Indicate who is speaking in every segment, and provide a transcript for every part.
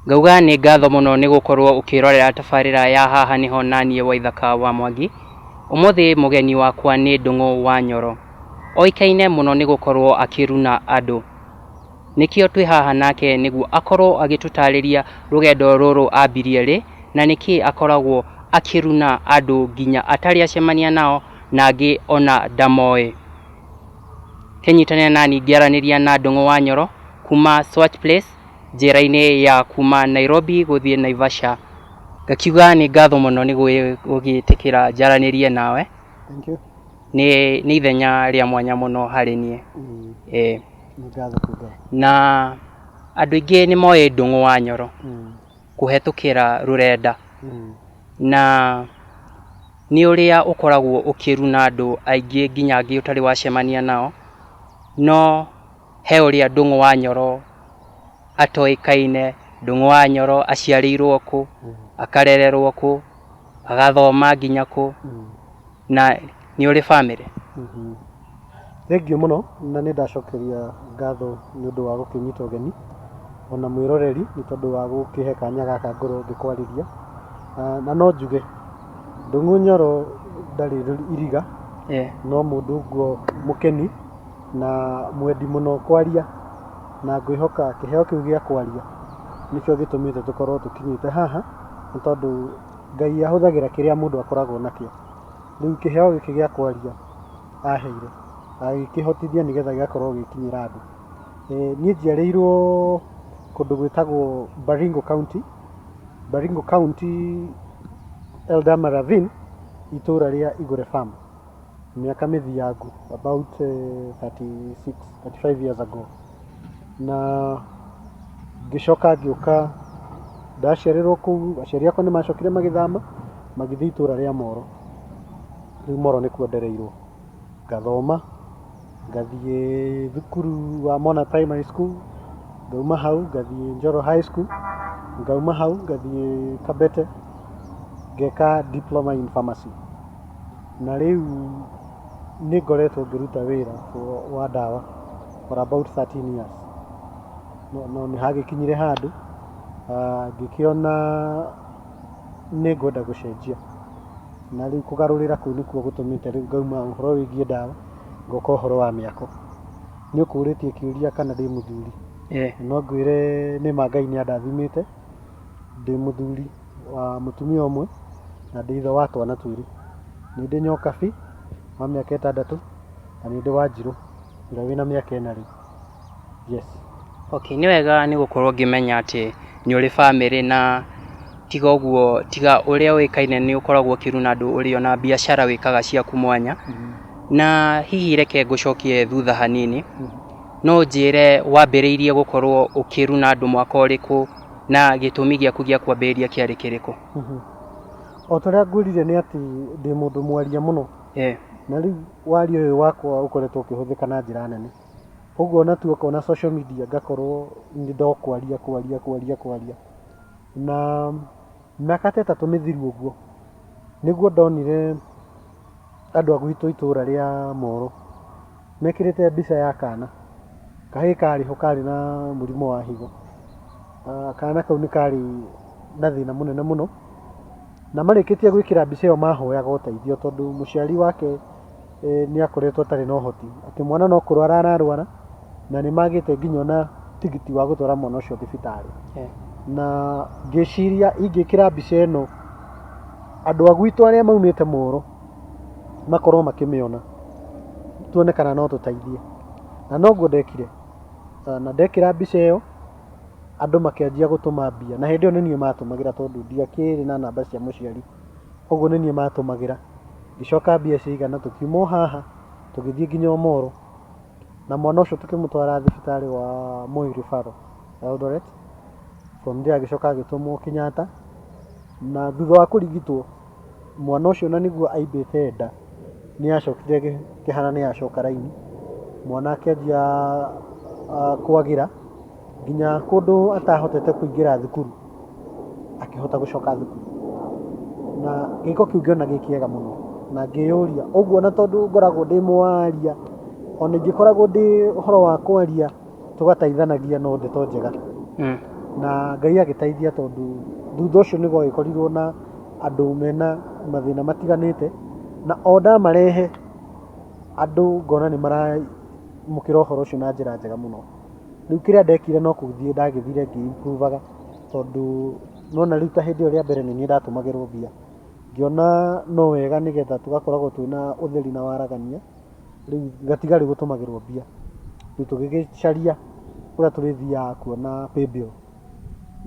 Speaker 1: Ngauga nĩ ngatho mũno nĩ gũkorwo ũkĩrorera tabarĩra ya haha nĩho naniĩ Waithaka wa Mwangi. Ũmũthĩ mũgeni wakwa nĩ Ndũng'ũ wa Nyoro. Oĩkaine mũno nĩ gũkorwo akĩruna andũ. Nĩkĩo twĩ haha nake nĩguo akorwo agĩtũtarĩria rũgendo rũrũ ambirie rĩ, na nĩkĩĩ akoragwo akĩruna andũ nginya atarĩ acemania nao. na angĩ o na ndamoĩ. Kenyitanĩra nani ngĩaranĩria na Ndũng'ũ wa Nyoro kuma Swatch Place njĩra-inĩ ya kuma Nairobi gũthiĩ Naivasha. Ngakiuga nĩ ngatho mũno nĩ gũgĩtĩkĩra njaranĩrie nawe, Thank you. nĩ nĩ ithenya rĩa mwanya mũno harĩ niĩ. Mm, Ĩĩ. nĩ ngatho kũnga. Na andũ aingĩ nĩ moĩ Ndũng'ũ wa Nyoro. Mm. kũhetũkĩra rũrenda mm. na nĩ ũrĩa ũkoragwo ũkĩruna andũ aingĩ nginya angĩ ũtarĩ wacemania nao no he ũrĩa ndũng'ũ wa nyoro atoĩkaine ndũng'ũ wa nyoro aciarĩirwo kũ mm. akarererwo kũ agathoma nginya kũ mm. na nĩ ũrĩ bamĩrĩ. Thengiũ mũno na nĩ ndacokeria ngatho nĩ ũndũ wa gũkĩnyita ũgeni ona mwĩroreri nĩ tondũ wa gũkĩhe kanya gaka ngorwo ngĩkwarĩria. Na no njuge Ndung'u Nyoro ndarĩ iriga no mũndũ nguo mũkeni na mwendi mũno kwaria na ngwĩhoka kĩheo kĩu gĩa kwaria nĩkĩo gĩtũmĩte tũkorwo tũkinyĩte haha nĩ tondũ... Ngai ahũthagĩra kĩrĩa mũndũ akoragwo nakĩo. Rĩu kĩheo gĩkĩ gĩa kwaria aheire, agĩkĩhotithia nĩgetha gĩgakorwo gĩgĩkinyĩra andũ. Niĩ njiarĩirwo kũndũ gwĩtagwo Baringo County, Baringo County Elderama Ravine, itũũra rĩa Igũre Farm. mĩaka mĩthiangu about uh, 36 35 years ago na ngĩcoka ngĩũka ndaciarĩrwo kũu aciari akwa nĩ macokire magĩthama magĩthiĩ itũra rĩa moro rĩu moro nĩkuo ndereirwo ngathoma Ngathiĩ thukuru wa Mona Primary School, ngauma hau ngathiĩ Njoro High School, ngauma hau ngathiĩ Kabete ngeka Diploma in Pharmacy. Na rĩu nĩ ngoretwo ngĩruta wĩra wa ndawa for about 13 years. No nĩ hagĩkinyire handũ ngĩkĩona nĩ ngwenda gũcenjia, na rĩu kũgarũrĩra kũu nĩkuo gũtũmĩte rĩu ngauma ũhoro wĩgiĩ ndawa. ngoka ũhoro wa mĩako nĩ ũkũrĩtie kĩũria kana ndĩ mũthuri Eh, no ngwĩre nĩ ma ngai nĩ andathimĩte ndĩ mũthuri wa mũtumia ũmwe na ndĩ ithe wa twana twĩrĩ nĩ ndĩ nyokabi wa mĩaka ĩtandatũ na nĩ ndĩ wanjirũ ũrĩa wĩna mĩaka ĩna rĩu yes. Okay, nĩ wega nĩ gũkorwo ngĩmenya atĩ nĩ ũrĩ bamĩrĩ na tiga ũguo tiga ũrĩa ũĩkaine nĩ ũkoragwo ũkĩruna andũ ũrĩ ona biacara wĩkaga ciaku mwanya na hihi reke ngũcokie thutha hanini no njĩre wambĩrĩirie gũkorwo ũkĩruna andũ mwaka ũrĩkũ na gĩtũmi gĩaku gĩa kwambĩrĩria kĩarĩ kĩrĩkũ o ta ũrĩa ngwĩrire nĩ atĩ ndĩ mũndũ mwaria mũno Eh, na rĩu waria ũyũ wakwa ũkoretwo ũkĩhũthĩka na njĩra nene Ũguo ona tu okorwo na social media ngakorwo nĩ ndokwaria kwaria kwaria kwaria. Na mĩaka ta ĩtatũ mĩthiru ũguo, nĩguo ndonire andũ a gwitũ itũra rĩa Moro mekĩrĩte mbica ya kana. Kahĩ karĩ ho karĩ na mũrimũ wa higo. Kana kau nĩ karĩ na thĩna mũnene mũno, na marĩkĩtie gwĩkĩra mbica ĩyo mahoyaga ũteithio tondũ mũciari wake... e, nĩ akoretwo atarĩ na ũhoti atĩ mwana no kũrwara ararwara na nĩ magĩte nginya ona tigiti wa gũtwara mwana ũcio thibitarĩ Eh, na ngĩciria ingĩkĩra mbica ĩno andũ a gwitũ arĩa maumĩte mũũrũ makorwo makĩmĩona tuone kana no tũteithie na noguo ndekire Ah, na ndekĩra mbica ĩyo andũ makĩanjia gũtũma mbia na hĩndĩ ĩyo nĩ niĩ matũmagĩra tondũ ndiakĩrĩ na namba cia mũciari Ũguo nĩ niĩ maatũmagĩra. Ngĩcoka mbia ciaigana tũkiuma o haha tũgĩthiĩ nginya o Moro, na mwana ũcio tũkĩmũtwara thibitarĩ wa Moi Referral Eldoret. From there agĩcoka agĩtũmwo Kenyatta, na thutha wa kũrigitwo, mwana ũcio na nĩguo aimbĩte nda, nĩ acokire akĩhana nĩ acoka raini, mwana akĩanjia kwagĩra. nginya kũndũ atahotete kũingĩra thukuru akĩhota gũcoka thukuru na gĩko kĩu ngĩona gĩ kĩega mũno na ngĩyũria ũguo na tondũ ngoragwo ndĩ mwaria ona ingĩkoragwo ndĩ ũhoro wa kwaria tũgataithanagia no ndeto njega Mm. na ngai agĩteithia tondũ thutha ũcio nĩguo agĩkorirwo na andũ mena mathĩna matiganĩte na o ndamarehe andũ ngona nĩ maramũkĩra ũhoro ũcio na njĩra njega mũno Rĩu kĩrĩa ndekire no gũthiĩ ndagĩthire ngĩ improve aga tondũ nona rĩu ta hĩndĩ ĩyo rĩa mbere nĩ niĩ ndatũmagĩrwo mbia. Ngĩona no wega nĩgetha tũgakoragwo twĩna ũtheri na waragania, rĩu ngatiga rĩu gũtũmagĩrwo mbia. Rĩu tũgĩgĩcaria kũrĩa tũrĩthiaga kuona paybill.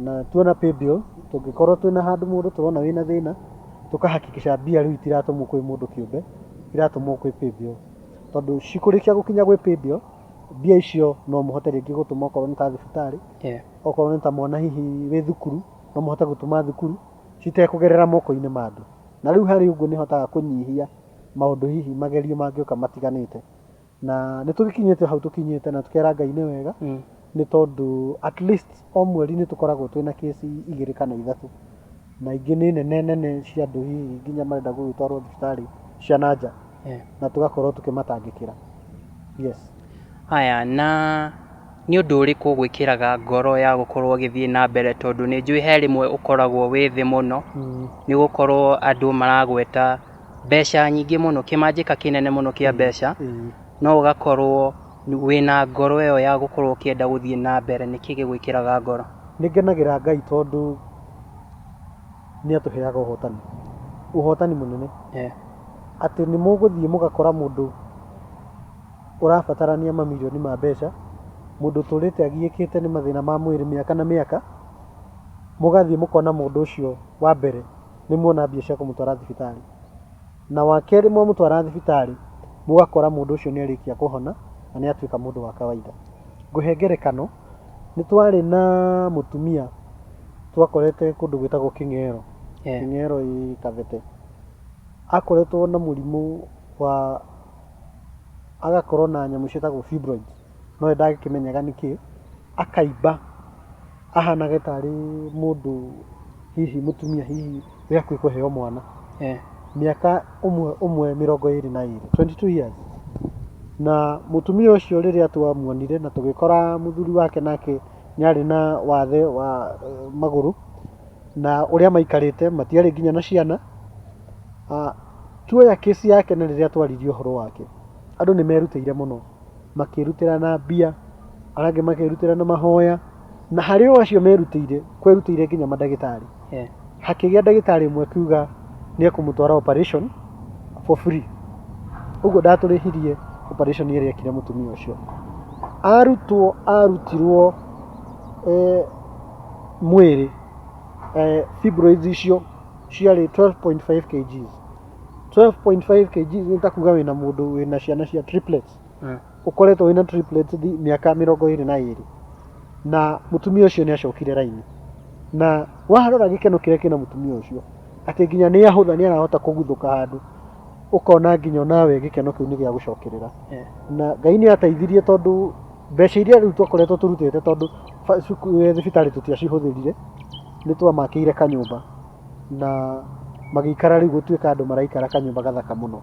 Speaker 1: Na tuona paybill, tũngĩkorwo twĩna handũ mũndũ tũrona wĩna thĩna, tũka hakikisha mbia rĩu itiratũmwo kwĩ mũndũ kĩũmbe, iratũmwo kwĩ paybill. Tondũ cikũrĩkia gũkinya gwĩ paybill... mbia icio no mũhote rĩngĩ gũtũma okorwo nĩ ta thibitarĩ yeah. okorwo nĩ ta mwana hihi wĩ thukuru no mũhote gũtũma thukuru citekũgerera moko-inĩ ma andũ na rĩu harĩ ũguo nĩ hotaga kũnyihia maũndũ hihi magerio mangĩũka matiganĩte na nĩ tũgĩkinyĩte hau tũkinyĩte na tũkera ngai nĩ wega mm. nĩ tondũ at least O mweri nĩ tũkoragwo twĩna case igĩrĩ kana ithatũ, na ingĩ nĩ nene nene cia andũ hihi nginya marenda gũgĩtwarwo thibitarĩ cia na nja, na tũgakorwo tũkĩmatangĩkĩra. Yes. Haya, na nĩ ũndũ ũrĩkũ ũgwĩkĩraga ngoro ya gũkorwo ũgĩthiĩ na mbere? Tondũ nĩ njũĩ he rĩmwe ũkoragwo wĩ thĩ mũno, nĩ gũkorwo andũ maragweta mbeca nyingĩ mũno, kĩmanjĩka kĩnene mũno kĩa mbeca, no ũgakorwo... Wĩna ngoro ĩyo ya gũkorwo ũkĩenda gũthiĩ na mbere, nĩkĩ gĩgwĩkĩraga ngoro? Nĩ ngenagĩra Ngai tondũ nĩ atũheaga ũhotani, ũhotani mũnene. Atĩ nĩ mũgũthiĩ mũgakora mũndũ ũrabatarania mamirioni ma mbeca, mũndũ ũtũrĩte agiĩkĩte nĩ mathĩna ma mwĩrĩ mĩaka na mĩaka, mũgathiĩ mũkona mũndũ ũcio wa mbere nĩ muona mbia cia kũmũtwara thibitarĩ. Na wa kerĩ mwamũtwara thibitarĩ mũgakora mũndũ ũcio nĩ arĩkia kũhona na nĩ atuĩka mũndũ wa kawaida. Ngũhe ngerekano, nĩ twarĩ na mũtumia twakorete kũndũ gwĩtagwo Kĩng'ero, Kĩng'ero ĩĩ Kabete. Akoretwo na mũrimũ wa, agakorwo na nyamũ ciĩtagwo fibroids, no we ndagĩkĩmenyaga nĩ kĩĩ, akaimba, ahanage tarĩ mũndũ hihi mũtumia hihi. wĩ hakuhĩ kũheo mwana eh, mĩaka ũmwe ũmwe mĩrongo ĩrĩ na ĩrĩ 22 years na mũtumia ũcio rĩrĩa twamuonire na tũgĩkora mũthuri wake nake nĩ arĩ na wathe wa eh, magũrũ na ũrĩa maikarĩte matiarĩ nginya na ciana Ah, tuoya kĩsi yake na rĩrĩa twaririe ũhoro wake andũ nĩ merutĩire mũno makĩrutĩra na mbia arĩa angĩ makĩrutĩra na mahoya Na harĩ o acio merutĩire, kwerutĩire nginya mandagĩtarĩ. Yeah. Hakĩgĩa ndagĩtarĩ ũmwe akiuga nĩ ekũmũtwara operation for free. Ũguo ndatũrĩhirie operation ĩrĩa ekire mũtumia ũcio. Arutwo arutirwo eh, mwĩrĩ eh, fibroids icio ciarĩ 12.5 kgs. 12.5 kgs nĩ ta kuga wĩna mũndũ wĩna ciana cia triplets. Mm. ũkoretwo wĩna triplets mĩaka mĩrongo ĩrĩ na ĩrĩ na mũtumia ũcio nĩ acokire raini na warora gĩkeno kĩrĩa kĩna mũtumia ũcio atĩ nginya nĩ ahũtha nĩ arahota kũguthũka handũ ũkona nginya onawe gĩkeno kĩu nĩ gĩa gũcokerera Eh. na ngai nĩ ateithirie tondũ mbeca iria rĩu twakoretwo tũrutĩte tondũ ba- cuku- eh, thibitarĩ tũtiacihũthĩrire nĩ twamakĩire kanyũmba na magĩikara rĩu gũtuĩka andũ maraikara kanyũmba gathaka mũno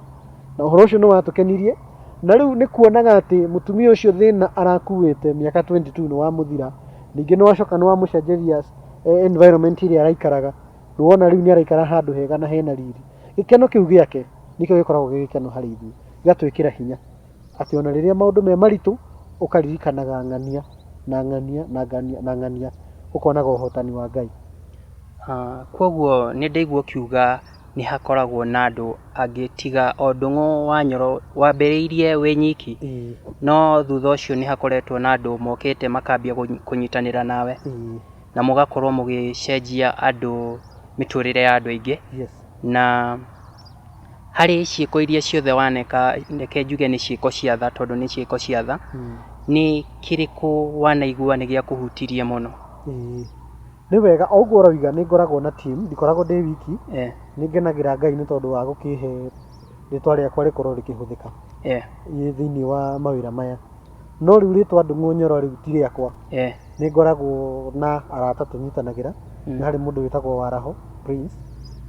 Speaker 1: na ũhoro ũcio nĩ watũkenirie Na rĩu nĩ kuonaga atĩ mũtumia ũcio thĩna arakuĩte mĩaka 22 nĩ wamũthira, ningĩ nĩ wacoka nĩ wamũcenjeria eh, environment ĩrĩa araikaraga, nĩ wona rĩu nĩ araikara handũ hega na hena riri. Gĩkeno kĩu gĩake nĩkĩo gĩkoragwo gĩ gĩkeno harĩ ithuĩ, gĩgatwĩkĩra hinya atĩ ona rĩrĩa maũndũ me maritũ ũkaririkanaga ng'ania na ng'ania na ng'ania na ng'ania, ũkonaga ũhotani wa Ngai. Ah, Kwoguo nĩ ndaigua ũkiuga nĩ hakoragwo na andũ angĩ tiga o Ndung'u wa Nyoro wambĩrĩirie wĩ nyiki, no thutha ũcio nĩ hakoretwo na andũ mokĩte makambia kũnyitanĩra nawe na mũgakorwo mũgĩcenjia andũ mĩtũrĩre ya andũ aingĩ. Na harĩ ciĩko iria ciothe waneka, reke njuge nĩ ciĩko cia tha tondũ nĩ ciĩko cia tha, nĩ kĩrĩkũ wanaigua nĩ gĩakũhutirie mũno? Nĩ wega o ũguo ũroiga nĩ ngoragwo na team, ndikoragwo ndĩ wiki. Eh. Nĩ ngenagĩra Ngai nĩ tondũ wa gũkĩhe rĩtwa rĩakwa rĩkorwo rĩkĩhũthĩka eh. thĩinĩ wa mawĩra maya. No rĩu rĩtwa Ndung'u Nyoro rĩu ti rĩakwa. Eh. Nĩ ngoragwo na arata tũnyitanagĩra. Mm. Nĩ harĩ mũndũ wĩtagwo Waraho Prince,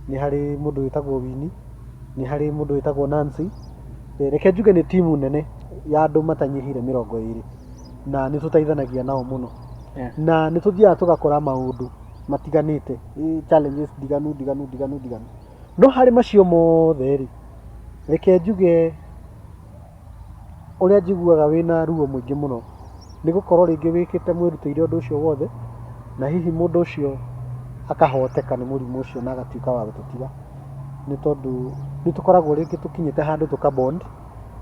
Speaker 1: nĩ harĩ mũndũ wĩtagwo Wini, nĩ harĩ mũndũ wĩtagwo Nancy. Eh, reke njuge nĩ timu nene ya andũ matanyihĩire mĩrongo ĩrĩ na nĩ tũteithanagia nao mũno. Yeah. na nĩ tũthiaga tũgakora maũndũ matiganĩte eh, challenges ndiganu ndiganu ndiganu ndiganu no harĩ macio mothe rĩ reke njuge ũrĩa njiguaga wĩna ruo mũingĩ mũno nĩ gũkorwo rĩngĩ wĩkĩte mwĩrutĩire ũndũ ũcio wothe na hihi mũndũ ũcio akahoteka nĩ mũrimũ ũcio na agatuĩka wa gũtũtiga nĩ tondũ nĩ tũkoragwo rĩngĩ tũkinyĩte handũ tũkabond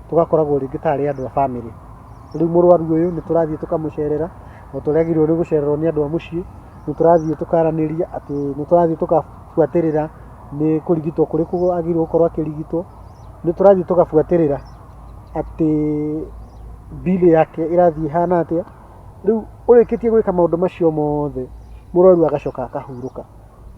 Speaker 1: tũgakoragwo rĩngĩ ta arĩ andũ a bamĩrĩ. Rĩu mũrwaru ũyũ nĩ tũrathiĩ tũkamũcerera o ta ũrĩa agĩrĩirwo nĩ gũcererwo nĩ andũ a mũciĩ, nĩ tũrathiĩ tũkaranĩria atĩ nĩ tũrathiĩ tũgabuatĩrĩra nĩ kũrigitwo kũrĩkũ agĩrĩirwo gũkorwo akĩrigitwo, nĩ tũrathiĩ tũgabuatĩrĩra atĩ bill yake ĩrathiĩ ĩhana atĩa. Rĩu ũrĩkĩtie gwĩka maũndũ macio mothe mũrwaru agacoka akahurũka.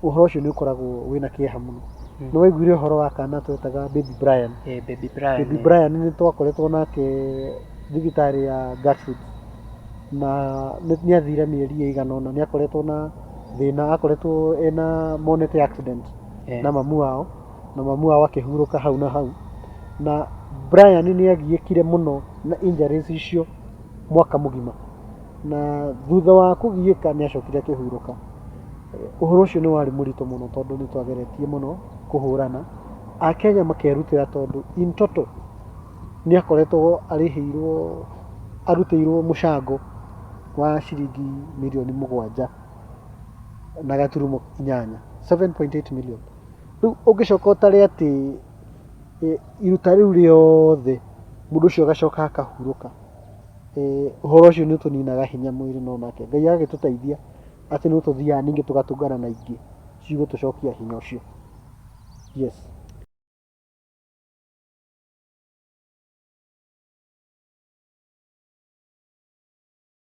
Speaker 1: ũhoro ũcio nĩ ũkoragwo wĩna kĩeha mũno mm. nĩ waiguire ũhoro wa kana twetaga baby brian hey, eh, baby brian, baby eh. brian nĩ twakoretwo nake thibitarĩ ya gatford na nĩ athire mĩeri ĩigana ũna nĩ akoretwo na thĩna akoretwo ena monete accident hey. Eh. na mamu wao na mamu wao akĩhurũka hau na hau na brian nĩ agiĩkire mũno na injuries icio mwaka mũgima na thutha wa kũgiĩka nĩ acokire akĩhurũka. Ũhoro ũcio nĩ warĩ mũritũ mũno tondũ nĩ twageretie mũno kũhũrana. Akenya makerutĩra tondũ in total nĩ akoretwo arĩhĩirwo arutĩirwo mũcango wa ciringi mirioni mũgwanja na gaturumo inyanya 7.8 million. Rĩu ũngĩcoka ũtare atĩ iruta rĩu rĩothe mũndũ ũcio agacoka akahurũka. Ee, ũhoro ũcio nĩ ũtũninaga hinya mwĩrĩ no nake Ngai agagĩtũteithia atĩ nĩ tũthiaga ningĩ tũgatũngana na ingĩ cigũtũcokia hinya ũcio. Yes.